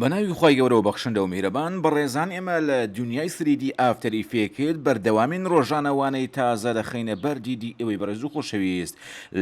بەناوی خوای گەورەو بەخشندەو میهرەبان بەڕێزان ئێمە لە دونیای سریدی ئافتەر ئیفێکت بەردەوامین ڕۆژانە وانەی تازە دەخەینە بەر دیدی ئێوەی بەڕێزو خۆشەویست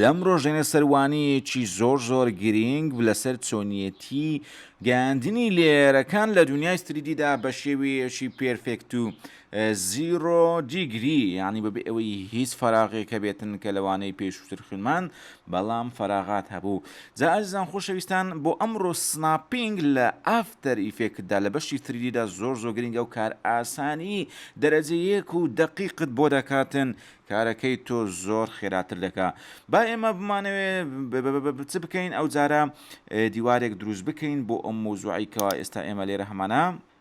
لەم ڕۆژەینە سەر وانەیەکی زۆر زۆر گرینگ لەسەر چۆنیەتی گەیاندنی لێیەرەکان لە دونیای سریدیدا بەشێوەیەکی پێرفێکتو زیرۆ دیگری یانی بەبێ ئەوەی هیچ فەراغێک هەبێتن کە لەوانەی پێشووتر خوێنمان بەڵام فەراغات هەبوو جا ئازیزان خۆشەویستان بۆ ئەمڕۆ سناپینگ لە ئافتەر ئیفێکتدا لە بەشی تریدیدا زۆر زۆر گرنگە و کار ئاسانی دەرەجە یەک و دەقیقت بۆ دەکاتن کارەکەی تۆ زۆر خێراتر دەکا با ئێمە بمانەوێ چ بکەین ئەو جارە دیوارێک دروست بکەین بۆ ئەم موزوعی کەوا ئێستا ئێمە لێرە هەمانە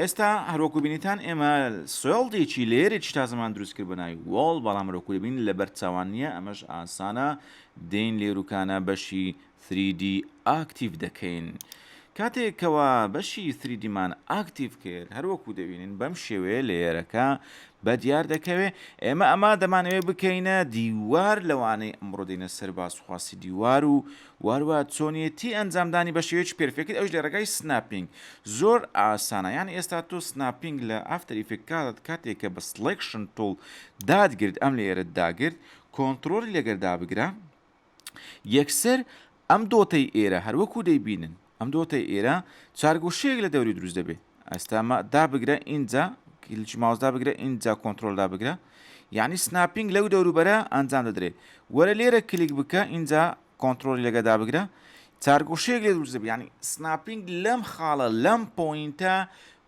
ئێستا هەروەکو بینیتان ئێمە سۆڵدێکی لەیەرێکی تازەمان دروست کرد بەناوی وۆڵ بەڵام هەروەکو دەبین لەبەر چاوان نییە ئەمەش ئاسانە دێین لێروکانە بەشی 3D ئاکتیڤ دەکەین کاتێکەوە بەشی 3دیمان ئاکتیڤ کرد هەروەکو دەبینین بەم شێوەیە لەیەرەکە بە دیار دەکەوێ ئێمە ئەما دەمانەوێ بکەینە دیوار لەوانەی ئەمڕۆ دێنە سەر باسخواسی دیوار و وهەروەها چۆنیەتی ئەنجامدانی بەشێوەیەکی پێرفێکت ئەویش لەرێگای سناپینگ زۆر ئاسانە یانی ئێستا تۆ سناپینگ لە ئافتەر ئیفێکت کاتت کاتێک کە بە سڵێکشن توڵ داتگرت ئەم لەیەرەت داگرت کۆنتڕۆڵی لەگەر دابگرە یەکسەر ئەم دۆتەی ئێرە هەروەکو دەیبینن ئەم دۆتەی ئیرە چار گۆشەیەک لە دەوری دروست دەبێ ئەستا مە دابگرە ئینجا کلیچ ماوس دابگرە ئینجا کۆنتترۆل دابگرە یعنی سناپینگ لەو دەوروبەرە ئەنجام دەدرێ وەرە لێرە کلیک بکە ئینجا کۆنتترۆلی لەگە دابگرە چارگۆشەیەک لێ دروست دەبێ ینی سناپینگ لەم خاڵە لەم پۆینتە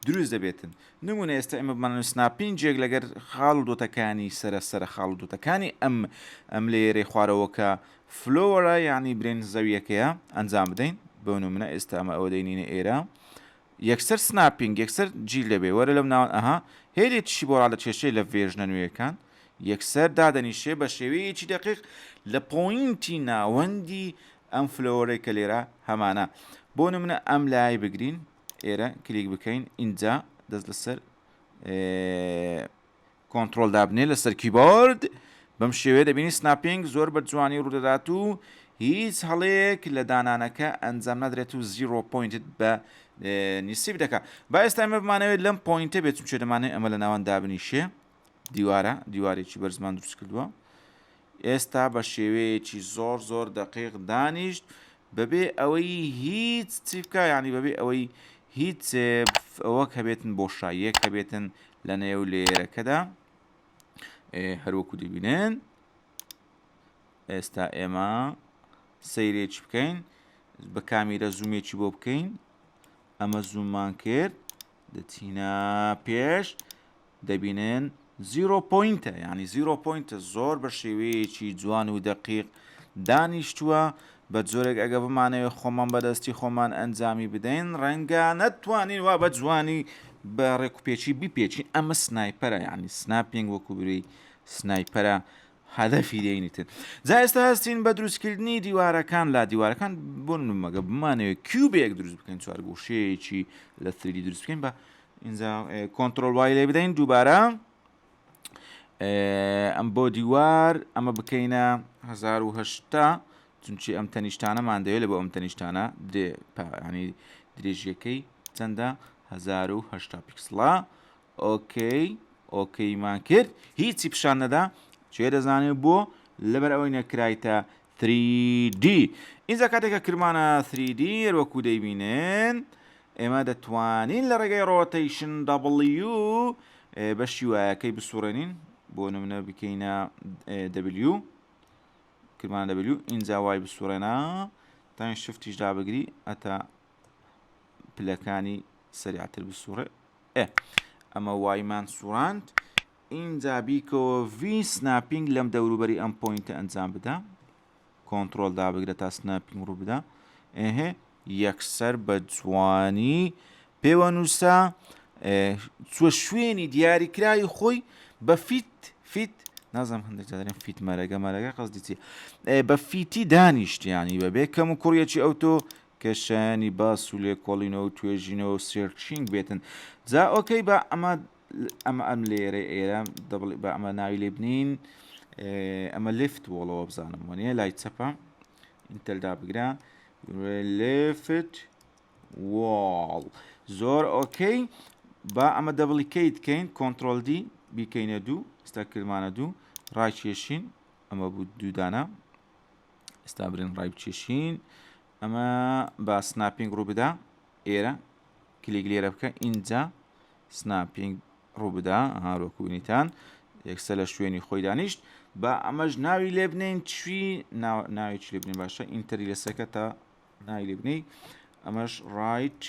دروست دەبێتن نمونە ئێستا ئمە بمان سناپینجێک لەگەر خاڵ و دۆتەکانی سرە سرە خاڵ و دۆتەکانی ئەم ئەم لێرەی خوارەوەکە فلۆرا یانی برێنج زەویەکەیە ئەنجام بدەین بۆ نمونە ئێستا ئەمە ئەوە دەینینە ئێرە یەکسەر سناپینگ یەکسەر جیل دەبێ وەرە لەم ناوان ئەها هێلی تشی بۆ ڕادە کێشەی لە ڤێژنە نوێیەکان یەکسەر دادەنیشێ بە شێوەیەکی دقیق لە پۆینتی ناوەندی ئەم فلۆرەی کە لێرە هەمانە بۆ نمونە ئەم لای بگرین ئێرە کلیک بکەین ئینجا دەست لەسەر کۆنتڕۆڵ دابنێ لەسەر کیبۆرد بەم شێوەیە دەبینی سناپینگ زۆر بە جوانی ڕوودەدات و هیچ هەڵەیەک لە دانانەکە ئەنجام نادرێت و زیرۆ پۆینتت بە نیسیب دەکات با ئێستا ئمە بمانەوێت لەم پۆینتە بێت چونچێ دەمانێت ئەمە لە ناوان دابنیشێ دیوارە دیوارێکی بەرزمان دروست کردووە ئێستا بە شێوەیەکی زۆر زۆر دەقیق دانیشت بەبێ ئەوەی هیچ چی بکە یعنی بەبێ ئەوەی هیچ ئەوەک هەبێتن بۆشاییەک هەبێتن لە نێو لێرەکەدا هەروەکو دەبینن ئێستا ئێمە سەیرێکی بکەین بە کامیرە زوومێکی بۆ بکەین ئەمە زوومان کرد دەچینە پێش دەبینن زیرۆ پوینتە ینی زیرۆ پوینتە زۆر بە شێوەیەکی جوان و دەقیق دانیشتووە بە جۆرێک ئەگە بمانەوێت خۆمان بەدەستی خۆمان ئەنجامی بدەین ڕەنگە نەتوانین وا بە جوانی بە ڕێکوپێکی بیپێکی ئەمە سنایپەرە ینی سناپینگ وەکو بری سنایپەرە هەدەفی دێینی تر جا ئێستا هەستین بە دروستکردنی دیوارەکان لا دیوارەکان بۆن مەگە بمانەوێت کیوبێک دروست بکەین چوارگوشەیەکی لە سری دروست بکەین بە اینجا کۆنتترۆل وای لێ بدەین دووبارە ئەم بۆ دیوار ئەمە بکەینە 1970 چونچی ئەم تەنیشتانەمان دەوێت لە بۆ ئەم تەنیشتانە درێ پانی درێژیەکەی چەندە 1970 پیکسڵە ئۆکەی ئۆکەیمان کرد هیچی پیشان نەدا چێ دەزانێت بۆ لەبەر ئەوەی نەکرایتە 3D ئینجا کاتێکە کرمانە 3D وەکو دەیبینێن ئێمە دەتوانین لە ڕێگەی ڕۆتەیشن دەبڵیو بە شیوایەکەی بسوڕێنین بۆ نمونە بکەینە دەبلیو کرمانە دەبلیو ئینجا وای بسوڕێنە تاین شفتیش دابگری ئەتا پلەکانی سەریعتر بسوڕێ ئێ ئەمە وایمان سوڕاند ئینجا بیکەوە ڤی سناپینگ لەم دەوروبەری ئەم پوینتە ئەنجام بدە کۆنتترۆل دابگرە تا سناپینگ ڕوو بدە ئه یەکسەر بە جوانی پێوە نووسە چوە شوێنی دیاریکراوی خۆی بە فیت فیت نازم هەندێک دەێن فیت مەرەگە مەرەگە قەزدیتی بە فیتی دانیشتیانی بەبێ کەم و کوڕیەکی ئەو تۆ کە شایانی باس و لێکۆڵینەوە و توێژینەوە و سێرچینگ بێتن جا ئۆکەی با ئەمە ئەمە ئەم لێرە ئێرە دەبڵی با ئەمە ناوی لێ بنین ئەمە لفت وڵەوە بزانم وەنیە لای چەپە ئینتەلدا بگرە لفت واڵ زۆر ئۆکەی با ئەمە دەبڵی کەی دکەین کۆنتترۆل دی بیکەینە دوو ستا کرمانە دوو ڕاکێشین ئەمە بوو دوودانە ئێستا برێن ڕای بچێشین ئەمە بە سناپینگ ڕوو بدا ئێرە کلیک لێرە بکە ئینجا سناپینگ ڕوو بدا هاروەکوونیتان یەکسە لە شوێنی خۆی دانیشت بە ئەمەش ناوی لێ بنین چی ناوی لێ بنین باشە ئینتەری لەسەکە تا ناوی لێ بنی ئەمەش ڕایت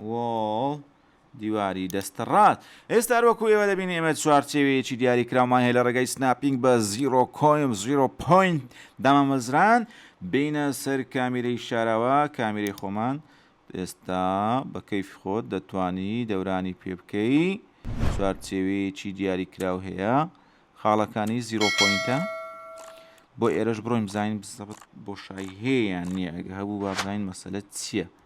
وۆڵ، دیواری دەستەڕاست. ئێستا هەر وەکو ئێوە دەبینین ئێمە چوارچێوەیەکی دیاریکراومان هەیە لە ڕێگای سناپینگ بە زیرۆ کۆیم، زیرۆ پۆینت، دامامەزران، بێینە سەر کامیرەی شاراوە، کامیرەی خۆمان، ئێستا بە کەیفی خۆت دەتوانی دەورانی پێ بکەی، چوارچێوەیەکی دیاریکراو هەیە، خاڵەکانی زیرۆ پۆینتە، بۆ ئێرەش بڕۆین بزانین بزەبت بۆشایی هەیە یان نییە، ئەگە هەبوو با بزانین مەسەلە چییە.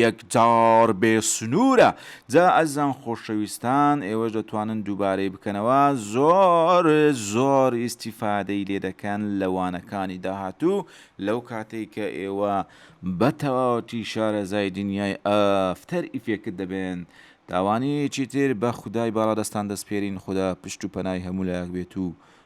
یەکجار بێ سنوورە جا ئەزیزان خۆشەویستان ئێوەش دەتوانن دووبارەی بکەنەوە زۆر زۆر ئیستیفادەی لێ دەکەن لە وانەکانی داهاتوو لەو کاتەی کە ئێوە بە تەواوەتی شارەزای دنیای ئەفتەر ئیفێکت دەبێن داوانەیەکی تر بە خودای باڵادەستان دەسپێرین خودا پشت و پەنای هەموو لایەک بێت و